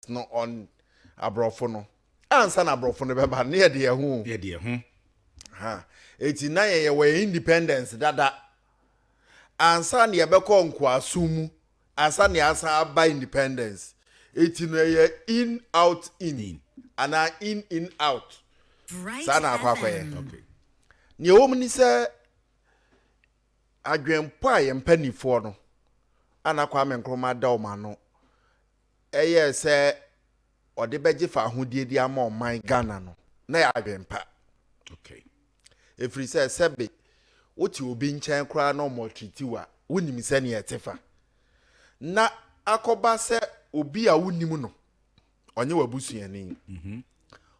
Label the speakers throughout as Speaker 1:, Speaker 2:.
Speaker 1: no on aborɔfo no ansa na aborɔfo no bɛba no yɛde yɛn ho yɛde yɛn ho ha eti na yɛn yɛwɔ yɛn independence dada ansa na yɛbɛkɔ nkoasom mu ansa na yɛasan aba independence eti no ɛyɛ in out in anaa in in out saa na akɔ akɔyɛ nea ɛwɔ mu ni sɛ adwenpɔ a yɛn mpanimfoɔ no ana Kwame Nkrumah da wɔn ano ɛyɛɛ sɛ ɔde bɛgye fahodie de ama ɔman Ghana no, na yɛ adwempa. Okay. Ɛfiri sɛ sɛbe wote obi nkyɛn koraa na ɔmɔtritiw a, wonim sɛnea ɛte fa. Na akɔba sɛ obi a wonim no, ɔnyɛ w'abusuani. Mhm.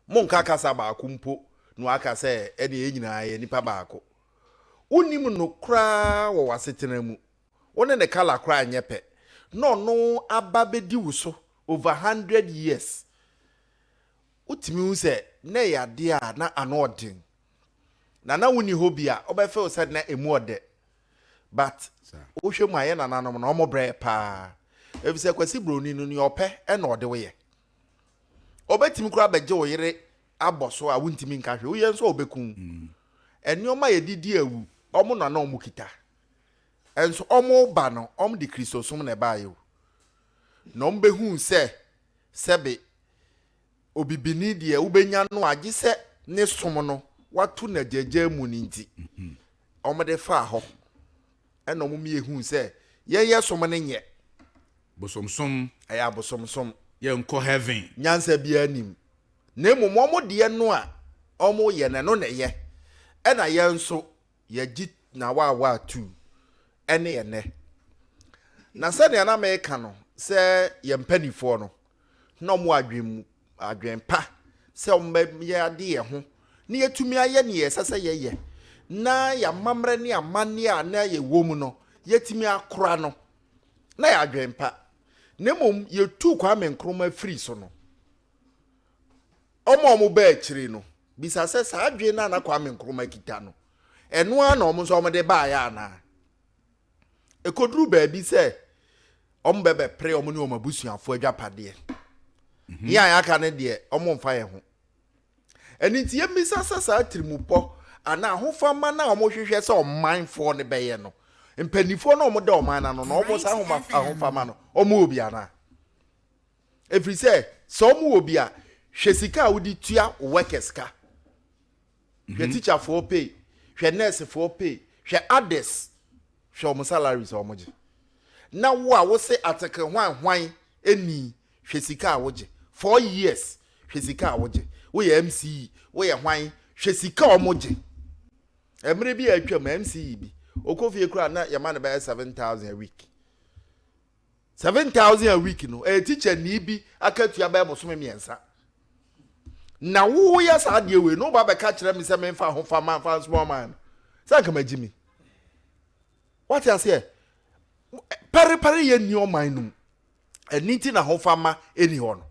Speaker 1: Monka kasa baako mpo na waka sɛ ɛne yɛn nyinaa yɛ nipa baako. Wonim no koraa wɔ w'asetena mu. wo ne ne colour koraa nyɛ pɛ na ɔno aba bɛdi wo so over hundred years wotumi hu sɛ na ɛyɛ adeɛ a na ano ɔden na na wonni hɔ bi a wobɛfew sɛ na ɛmu ɔdɛ but wohwɛ mu a yɛ nananom na ɔmo brɛ paa efisɛ kwasi broni no nea ɔpɛ ɛna ɔde wo yɛ ɔbɛtumi koraa bɛgye wo yere abɔ so a wontumi nka hwɛ woyɛ nso a ɔbɛku mm. nneɛma yɛde di awu ɔmo nana ɔmo kita Nso wɔreba no, wɔde Kristosom na ɛbaeɛ o. Na wɔbɛhuu sɛ, sɛbe, obibini deɛ wobɛnya no a, gye sɛ ne som no wato no agyaagyaa mu no nti, wɔde faa hɔ. Ɛna wɔn mmiɛ huu sɛ, yɛn yɛ som no nyɛ. Bosomsom. Ɛyɛ abosomsom. Yɛnkɔ heaven. Nyansa biara nim. Na mmom wɔn deɛ no a wɔyɛ no, ɛno na ɛyɛ. Ɛna yɛn nso, yɛgye n'awaawaa tuu ne ɛnnɛ. Na sɛnea na meka no sɛ yɛn mpanimfoɔ no, na wɔn adwene mu adwene pa sɛ wɔbɛyɛ ade yɛn ho na yɛatumi ayɛ nea ɛsɛ sɛ yɛyɛ na yɛamammerɛ ne amanneɛ a na yɛwɔ mu no yɛatumi akora no na yɛ adwene pa na mmom yɛtuu Kwame Nkrumah firi so no Wɔn a wɔba akyiri no bisa sɛ, saa adwene no a na Kwame Nkrumah kita no, ɛno ara na wɔn nso wɔde baeɛ anaa? Ɛkɔduru baabi sɛ wɔbɛbɛpere wɔn ne wɔn abusuafoɔ adwapadeɛ. Mhm. Yɛn a yɛaka no deɛ, wɔmfa yɛn ho. Ɛno nti yɛmmisa sɛ saa tirimupɔ anaa ahofama no a wɔhwehwɛ sɛ ɔmanfoɔ no bɛyɛ no, mpanimfoɔ no a wɔda ɔman no ano no, wɔn saa ahofama no, wɔwɔ bi anaa? Ɛfiri sɛ, sɛ wɔn wɔ bi a, hwɛ sika a wode tua wo workers ka. Hwɛ mhm. teacherfoɔ pay, hwɛ nursefoɔ pay, hwɛ others, hwɛ wɔn salaries a wɔgye. Na wo a wose ateke hwan hwan ɛni, hwɛ sika a wogye. Four years, hwɛ sika a wogye. Woyɛ MCE, woyɛ hwan, hwɛ sika a wɔgye. Mmerɛ bi a atwam, MCE bi, ɔkɔ fie koraa na yɛma no bɛyɛ 7,000 a week. Seven thousand a week no ɛyɛ teacher nii bi akatua bɛyɛ bosome mmiɛnsa na woyɛ saa adeɛ wei na woba bɛka kyerɛ me sɛ menfa ho fa ma fa nsoma ɔman no sɛ anka magye mi wate aseɛ parepare yɛ nni ɔman no mu ɛni ti na ho fa ma ɛni hɔ no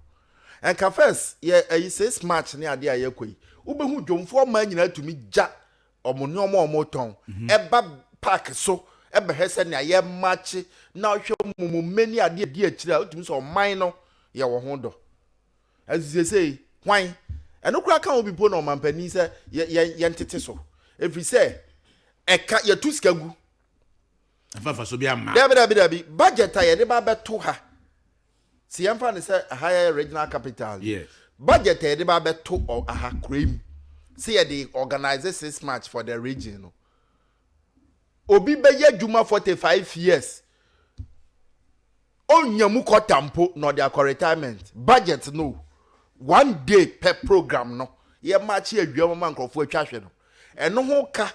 Speaker 1: ɛnka first yɛ ɛyi six march ne adeɛ a yɛkɔ yi wobɛhu dwomfoɔ ɔman nyinaa tumi gya wɔn nneɛma a wɔtɔn mhm. ba park so bɛhwɛ sɛ nea yɛ makye na ɔhwɛ mumu mmɛ ne adeɛ di akyire a wotumi sɛ ɔman no yɛ wɔ ho dɔ ɛsisesei hwan ɛno koraa ka ho bi po na ɔmampanin sɛ yɛntete so ɛfiri sɛ ɛka yɛtu sika gu dabi dabi dabi budget a yɛde ba bɛto ha sɛ yɛmfa no sɛ aha yɛ regional capital yi budget a yɛde ba bɛto aha kura mu sɛ yɛde organize six march for the region no obi bɛyɛ adwuma 45 years ɔnya mu kɔta mpo na ɔde akɔ retirement budget no one day per program no yɛma akye awia ma nkurɔfoɔ atwa hwɛ no ɛno ho ka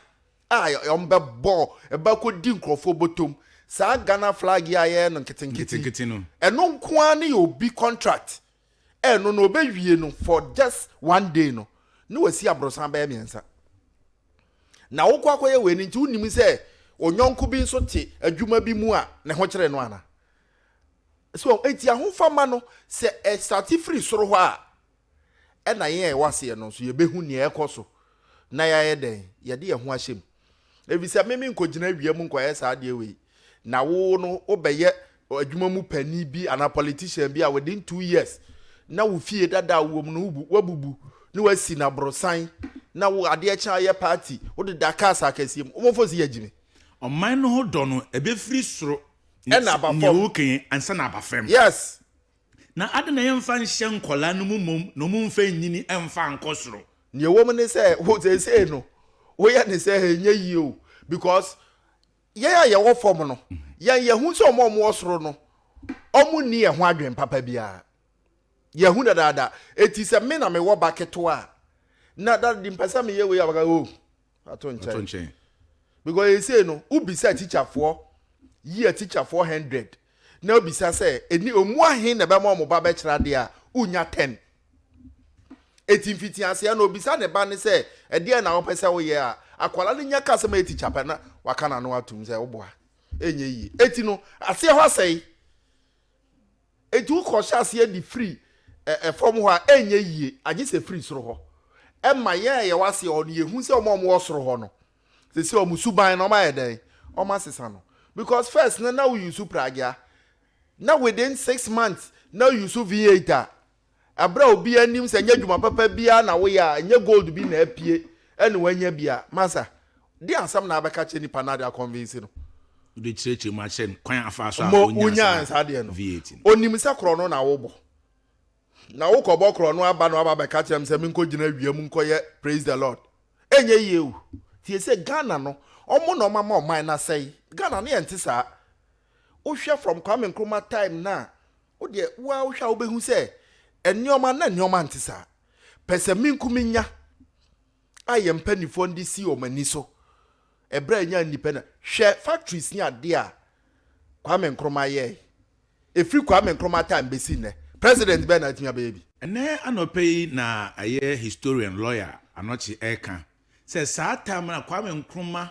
Speaker 1: a wɔn bɛ bɔ ɛbɛ akɔ di nkorɔfoɔ bɔtɔm saa Ghana flag yi a yɛyɛ no nketenkete no ɛno nko ara ne yɛ obi contract ɛno no ɔbɛ wie no for just one day no ne wa si aborosan bɛyɛ mmiɛnsa na wo kɔ akɔ yɛ wei no nti wo nim sɛ onyɔnko bi nso te adwuma bi mu a ne ho kyerɛ no ana so ɛti ahofama no sɛ ɛsate firi soro hɔ a ɛna yɛn a ɛwɔ aseɛ no nso yɛbɛhu nea ɛkɔ so na yɛayɛ dɛn yɛde yɛn ho ahyɛ mu efisɛ meme nkɔgyina awia mu nkɔyɛ saa adeɛ wei na wo no wobɛyɛ adwuma mu panin bi anaa politician bi a within two years na wo fie dada a wowɔ mu no wabubu ne wasi no aborosan na wo adeɛ kyɛ ayɛ party wode da cars akɛseɛ mu wɔmfo si yɛgyimi ɔman no ho
Speaker 2: dɔ no ɛbɛfiri soro ɛna aba fam
Speaker 1: nea woka yi ansa na aba
Speaker 2: fam yes
Speaker 1: Na adɛn
Speaker 2: na yɛmfa nhyɛ nkwadaa no mu mmom na wɔmfa nnyini mfa nkɔ soro? Nea ɛwɔ mu ne sɛ,
Speaker 1: wo seesei no, woyɛ no sɛ ɛnyɛ yie o, because yɛn a yɛwɔ fam no, yɛn yɛhu sɛ wɔn a wɔwɔ soro no, wɔnni yɛn ho adwene papa biara. Yɛahu dadaada. Eti sɛ me na mewɔ ba ketewa a, na daddy mpɛ sɛ meyɛ wei a, wɔka oh, ato nkyɛn because ɛsei no wobisa atikyafoɔ yi atikyafoɔ hundred na wobisa sɛ ɛni ɔmu ahe na ɛbɛma ɔmo ba bɛkyerɛ adeɛ a wonya ten ɛti mfiti aseɛ na obisa ne ba ne sɛ ɛdeɛ na wopɛ sɛ woyɛ a akwala no nya ka sɛ ma ɛtikya pɛ na waka n'ano atom sɛ woboa ɛnyɛ yie ɛti no aseɛ hɔ asɛe Enti wokɔhyɛ aseɛ de firi ɛ, fam hɔ a, ɛnyɛ yie, agye sɛ firi soro hɔ. Ɛma yɛn a yɛwɔ aseɛ hɔ no, yɛhu sɛ wɔn a wɔwɔ soro hɔ no, seesei wɔn suban no, wɔayɛ dɛn? Wɔasesa no. Because first no, na wo use Pragya, na within six months, na wo use V8 a, Bere a obiara nim sɛ ɛnyɛ adwuma papa biara na woyɛ a, ɛnyɛ gold bi na apue na woanya bi a, masa de asɛm na abɛka akyerɛ nipa no ade akɔnvinsi no. Wode kyerɛkyerɛ
Speaker 2: mu akyerɛ no kwan a afaa so a onyaa saa VAT
Speaker 1: no. Onim sɛ
Speaker 2: korɔno na
Speaker 1: wobɔ. Na wokɔbɔ korɔno aba na waba abɛka akyerɛ me sɛ menkɔgyina awia mu nkɔyɛ Praise the Lord. Ɛnyɛ yie o. Tie sɛ Ghana no, wɔn na wɔama ɔman no asɛe. Ghana no yɛnte saa. Wohwɛ from Kwame Nkrumah time no a, Wo deɛ wo ara wohwɛ a wobɛhu sɛ nneɛma na nneɛma nte saa. Pɛsɛmenkominya a yɛn mpanimfoɔ no de si wɔn ani so ɛberɛ a ɛnya nnipa na hwɛ factories ne adeɛ a Kwame Nkrumah yɛe. Ɛfiri Kwame Nkrumah time bɛsi nnɛ, president bɛn na atumi abɛyɛ bi? Ɛnnɛ anɔpa
Speaker 2: yi na ɛyɛ historian, lawyer, Anokye reka sɛ saa time no a Kwame Nkrumah